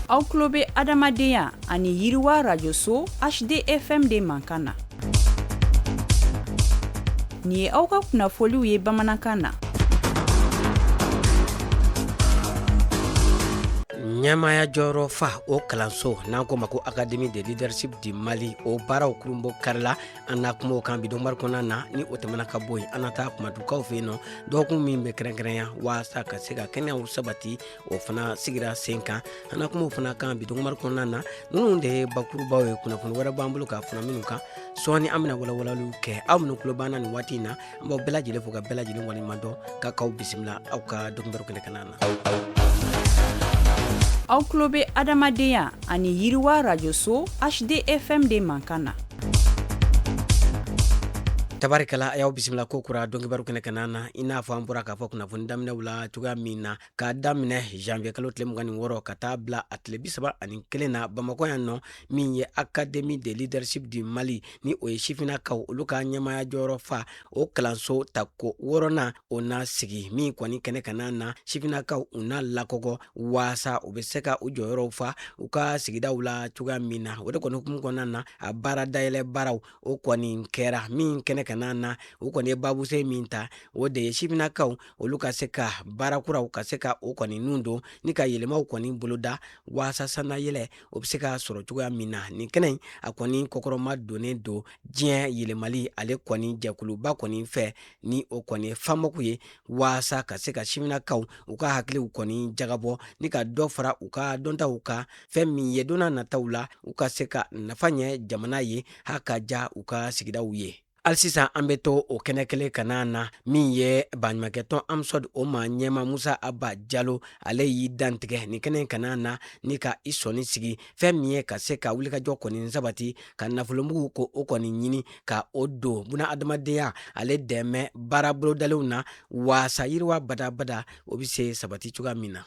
aw tulo bɛ adamadenya ani yiriwa rajoso hdfm de mankan na nin ye aw ka kunnafoliw ye bamanankan na ɲɛmaya jɔyɔrɔ fa o kalanso n'an k'o ma ko académie de leadership du mali o baaraw kurunbonkarila an na kuma o kan bi donkibaru kɔnɔna na ni o tɛmɛna ka bɔ yen an na taa kumatukaw fɛ yen nɔ dɔgɔkun min bɛ kɛrɛnkɛrɛnya waasa ka se ka kɛnɛyaw sabati o fana sigira sen kan an na kuma o fana kan bi donkibaru kɔnɔna na ninnu de ye bakurubaw ye kunnafoni wɛrɛ b'an bolo ka fara ninnu kan sɔɔni an bɛna walawalaliw kɛ aw minnu tulo b'an na nin waati in na an b'aw bɛɛ lajɛlen fo ka bɛɛ lajɛlen waleɲuman dɔn ka k'aw bisimila aw ka donkibaru kɛnɛ kanna na aw tulo bɛ adamadenya ani yiriwa rajoso hdfm de mankan na tabarikala a y'aw bisimila kokura donkibaru kɛnɛ kanna na i n'a fɔ an bɔra k'a fɔ kunnafoni daminɛw la cogoya min na k'a daminɛ janvier kalo tile mugan ni wɔɔrɔ ka taa bila a tile bi saba ani kelen na bamakɔ yan nɔ min ye académie de leadership du mali ni o ye sifinnakaw olu ka ɲɛmaya jɔyɔrɔ fa o kalanso tako wɔɔrɔnan o na sigi min kɔni kɛnɛ kanna na sifinnakaw u na lakɔgɔ waasa u be se ka u jɔyɔrɔw fa u ka sigidaw la cogoya min na o de kɔni hukumu kɔnɔna na a baara dayɛlɛ baaraw o kɔni kɛra min kɛnɛ kanna na u kɔni ye babusen min ta o de ye sifinnakaw olu ka se ka baara kuraw ka se ka o kɔni nun don ni ka yɛlɛmaw kɔni boloda waasa sannayɛlɛ o be se ka sɔrɔ cogoya min na nin kɛnɛ a kɔni kɔkɔrɔma donnen don diɲɛ yɛlɛmali ale kɔni jɛkuluba kɔni fɛ ni o kɔni ye famoc ye waasa ka se ka sifinnakaw u ka hakiliw kɔni jagabɔ ni ka dɔ fara u ka dɔntaw kan fɛn min ye don nataw la u ka se ka nafa ɲɛ jamana ye ha ka ja u ka sigidaw ye hali sisan an bɛ to o kɛnɛ kelen kanna na min ye baɲumankɛtɔn amsode o maa ɲɛmaa musa aba jalo ale y'i dantigɛ nin kɛnɛ kanna na ni ka i sɔnin sigi fɛn min ye ka se ka wulikajɔ kɔni sabati ka nafolomugu ko o kɔni ɲini ka o don bunaadamadenya ale dɛmɛ baara bolodalenw na waasa yiriwa badabada o bɛ se sabati cogoya min na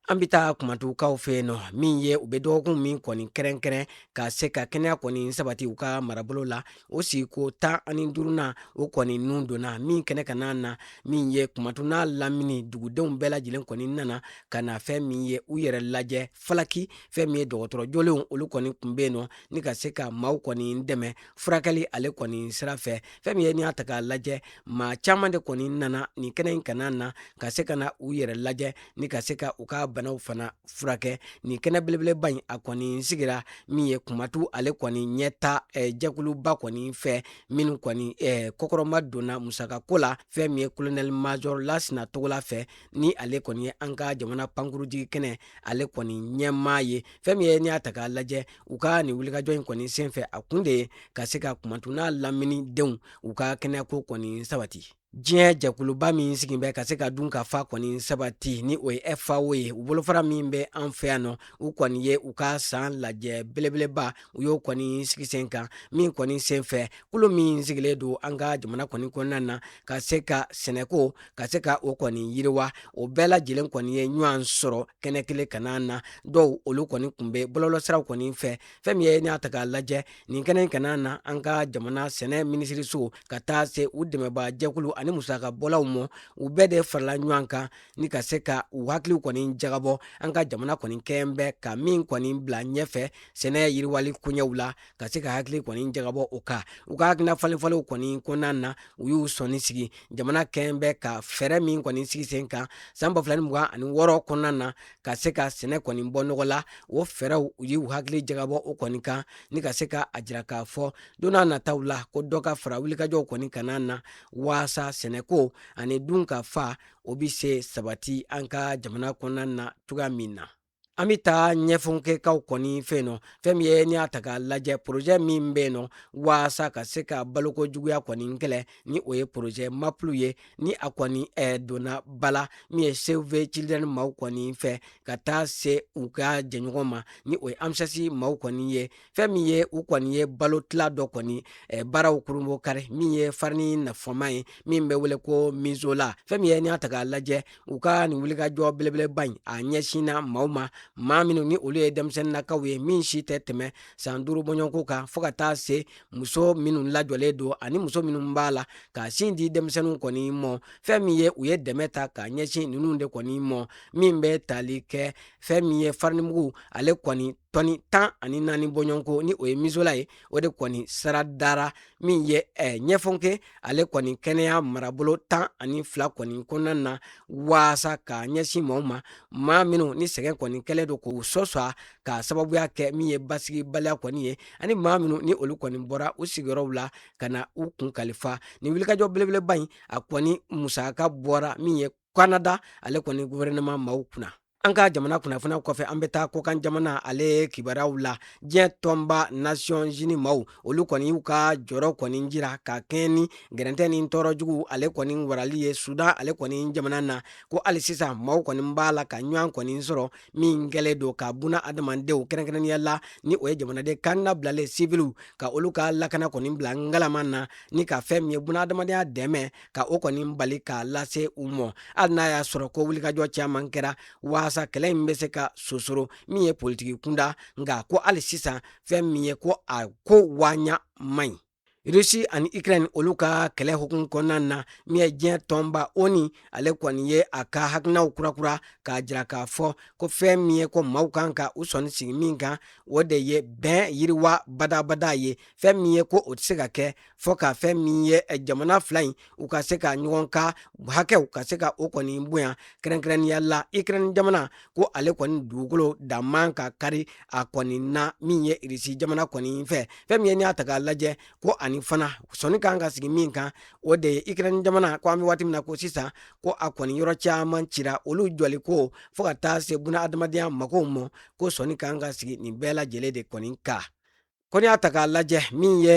an bɛ taa kumatukaw fɛ yen nɔ min ye u bɛ dɔgɔkun min kɔni kɛrɛnkɛrɛn ka se ka kɛnɛya kɔni sabati u ka marabolo la o sigiko tan ani duurunan o kɔni nun donna min kɛnɛ kanna na min ye kumatu n'a lamini dugudenw bɛɛ lajɛlen kɔni nana ka na fɛn min ye u yɛrɛ lajɛ falaki fɛn min ye dɔgɔtɔrɔ jolenw olu kɔni tun bɛ yen nɔ ni ka se ka maaw kɔni dɛmɛ furakɛli ale kɔni sira fɛ fɛn min ye n'i y'a ta k'a lajɛ maa caman de kɔni nana nin kɛnɛ in kan na ka se ka na u yɛrɛ lajɛ ni ka se ka u ka banaw fana furakɛ nin kɛnɛ belebeleba in a kɔni sigira min ye kumantu ale kɔni ɲɛtaa eh, jɛkuluba kɔni fɛ minnu kɔni eh, kɔkɔrɔmadonna musaka ko la fɛn min ye kolonɛli majɔr lasina togola fɛ ni ale kɔni ye an ka jamana pankurunjigin kɛnɛ ale kɔni ɲɛmaa ye fɛn min ye n'i y'a ta k'a lajɛ u ka nin wulikajɔ in kɔni senfɛ a kun de ye ka se ka kumantu n'a lamini denw u ka kɛnɛyako kɔni sabati diɲɛ jɛkuluba min sigin bɛ ka se ka dunkafa kɔni sabati ni o ye fao ye u bolofara min bɛ an fɛ yan nɔ u kɔni ye u ka san lajɛ belebeleba u y'o kɔni sigi sen kan min kɔni sen fɛ kulu min sigilen don an ka jamana kɔni kɔnɔna na ka se ka sɛnɛko ka se ka o kɔni yiriwa o bɛɛ lajɛlen kɔni ye ɲɔgɔn sɔrɔ kɛnɛ kelen kan na dɔw olu kɔni tun bɛ bɔlɔlɔsiraw kɔni fɛ fɛn min ye n'i y'a ta k'a lajɛ nin kɛnɛ kan na an ka jamana sɛnɛ minisiriso ka taa se u dɛmɛbaa jɛkulu ani musaka bɔlaw ma u bɛɛ de farala ɲɔgɔn kan ni ka se ka u hakiliw kɔni jagabɔ an ka jamana kɔni kɛɲɛ bɛ ka min kɔni bila ɲɛfɛ sɛnɛ yiriwali koɲɛw la ka se ka hakili kɔni jagabɔ o kan u ka hakilina falenfalenw kɔni kɔnɔna na u y'u sɔnin sigi jamana kɛn bɛ ka fɛɛrɛ min kɔni sigi sen kan san ba fila ni mugan ani wɔɔrɔ kɔnɔna na ka se ka sɛnɛ kɔni bɔ nɔgɔ la o fɛɛrɛw u y'u hakili jagabɔ o kɔni kan ni ka se ka a jira k'a fɔ don n'a nataw la ko dɔ ka fara wulikajɔw kɔni kan na waasa sɛnɛko ani dunkafa o bi se sabati an ka jamana kɔnɔna na cogoya min na an bɛ taa ɲafunkekaw kɔni fɛ yen nɔ fɛn min ye n'i y'a ta k'a lajɛ porozɛ min bɛ yen nɔ waasa ka se ka baloko juguya kɔni kɛlɛ ni o ye porozɛ maplu ye ni a kɔni eh, donna ba la min ye save the children maaw kɔni fɛ ka taa se u ka jɛɲɔgɔn ma ni o ye amss maaw kɔni ye fɛn min ye u kɔni ye balo tila dɔ kɔni eh, baaraw kurunbonkari min ye farini nafama ye min bɛ wele ko misola fɛn min ye n'i y'a ta k'a lajɛ u ka nin wulikajɔ belebeleba in a ɲɛsinna maaw ma maa minnu ni olu ye denmisɛnninakaw ye min si tɛ tɛmɛ san duuru bɔɲɔgɔnko kan fɔɔ ka taa se muso minnu lajɔlen don ani muso minnu b'a la ka sin di denmisɛnninw kɔni mɔ fɛn min ye u ye dɛmɛ ta ka ɲɛsin ninnu de kɔni mɔ min bɛ tali kɛ fɛn min ye farinimugu ale kɔni tɔni tan ani naani bɔɲɔgɔnko ni o ye misola ye o de kɔni sara dara min ye eh, ɲafunke ale kɔni kɛnɛya marabolo tan ani fila kɔni kɔnɔna na waasa ka ɲɛsin maaw ma maa minnu ni sɛgɛn kɔni kɛlen don k'u sɔsɔ ka sababuya kɛ min ye basigibaliya kɔni ye ani maa minnu ni olu kɔni bɔra u sigiyɔrɔw la ka na u kun kalifa ni wulikajɔ belebeleba in a kɔni musaka bɔra min ye kanada ale kɔni guvɛrɛnɛma maaw kun na An ka jamana kunnafoniw kɔfɛ an bɛ taa kɔkan jamana ale kibaruyaw la diɲɛ tɔnba nations unies maaw olu kɔni y'u ka jɔrɔ kɔni jira ka kɛɲɛ ni gɛrɛntɛ ni tɔɔrɔjugu ale kɔni warali ye sudan ale kɔni jamana na ko hali sisan maaw kɔni b'a la ka ɲɔgɔn kɔni sɔrɔ min kɛlen don ka buna adamadenw kɛrɛnkɛrɛnnenya la ni o ye jamanaden kannabilalen siwiliw ka olu ka lakana kɔni bila ngalama na ni ka fɛn min ye buna adamadenya dɛmɛ ka o kɔni bali k'a lase u mɔ hali n'a y'a sɔrɔ ko wulikajɔ caman kɛra waasa kɛlɛ in bɛ se ka sosoro min ye politiki kunda nka ko hali sisan fɛn min ye ko a ko waɲa man ɲi rusi ani ukraine olu ka kɛlɛ hukumu kɔnɔna na min ye diɲɛ tɔnba onu ale kɔni ye a ka hakilinaw kurakura k'a jira k'a fɔ ko fɛn min ye ko maaw kan ka u sɔnni sigi min kan o de ye bɛn yiriwa badabada ye fɛn min ye ko o tɛ se ka kɛ fo ka fɛn min ye eh, jamana fila in u ka se ka ɲɔgɔn ka hakɛw ka se ka o kɔni bonya kɛrɛnkɛrɛnnenya la ukraine jamana ko ale kɔni dugukolo dan man ka kari a kɔni na min ye irisi jamana kɔni fɛ fɛn min ye n'i y'a ta k'a lajɛ ko ani fana sɔnni kan ka sigi min kan o de ye ukraine jamana ko an bɛ waati min na ko sisan ko a kɔni yɔrɔ caman cira olu jɔli ko fo ka taa se buna adamadenya makow ma ko sɔnni kan ka sigi nin bɛɛ lajɛlen de kɔni kan ko n'i y'a ta k'a lajɛ min ye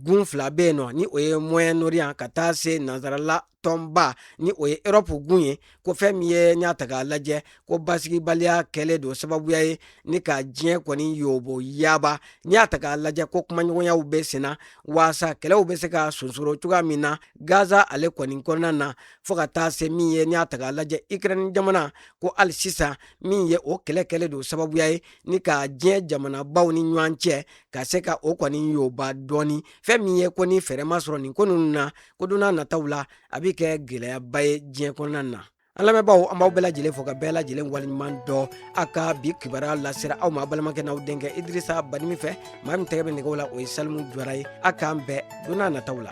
gun fila bɛ yen nɔ ni o ye moyen-orient ka taa se nansarala tɔnba ni o ye europe gun ye ko fɛn min ye n'i y'a ta k'a lajɛ ko basigibaliya kɛlen don sababuya ye ni ka diɲɛ kɔni yoboyaba n'i y'a ta k'a lajɛ ko kumaɲɔgɔnyaw bɛ senna waasa kɛlɛw bɛ se ka sonsoro cogoya min na gaza ale kɔni kɔnɔna na fo ka taa se min ye n'i y'a ta k'a lajɛ ukraine jamana ko hali sisan min ye o kɛlɛ kɛlen don sababuya ye ni ka diɲɛ jamanabaw ni ɲɔgɔn cɛ ka se ka o kɔni yoba dɔɔni fɛn min ye ko ni fɛɛrɛ ma sɔrɔ nin ko ninnu na ko donna nataw la a bɛ kɛ gɛlɛyaba ye diɲɛ kɔnɔna na an lamɛnbaaw an b'aw bɛɛ lajɛlen fo ka bɛɛ lajɛlen waleɲuman dɔn a ka bi kibaruya lasera aw ma balimakɛ n'aw denkɛ idirisa badimi fɛ maa min tɛgɛ bɛ nɛgɛw la o ye salimu jawara ye a k'an bɛn donna nataw la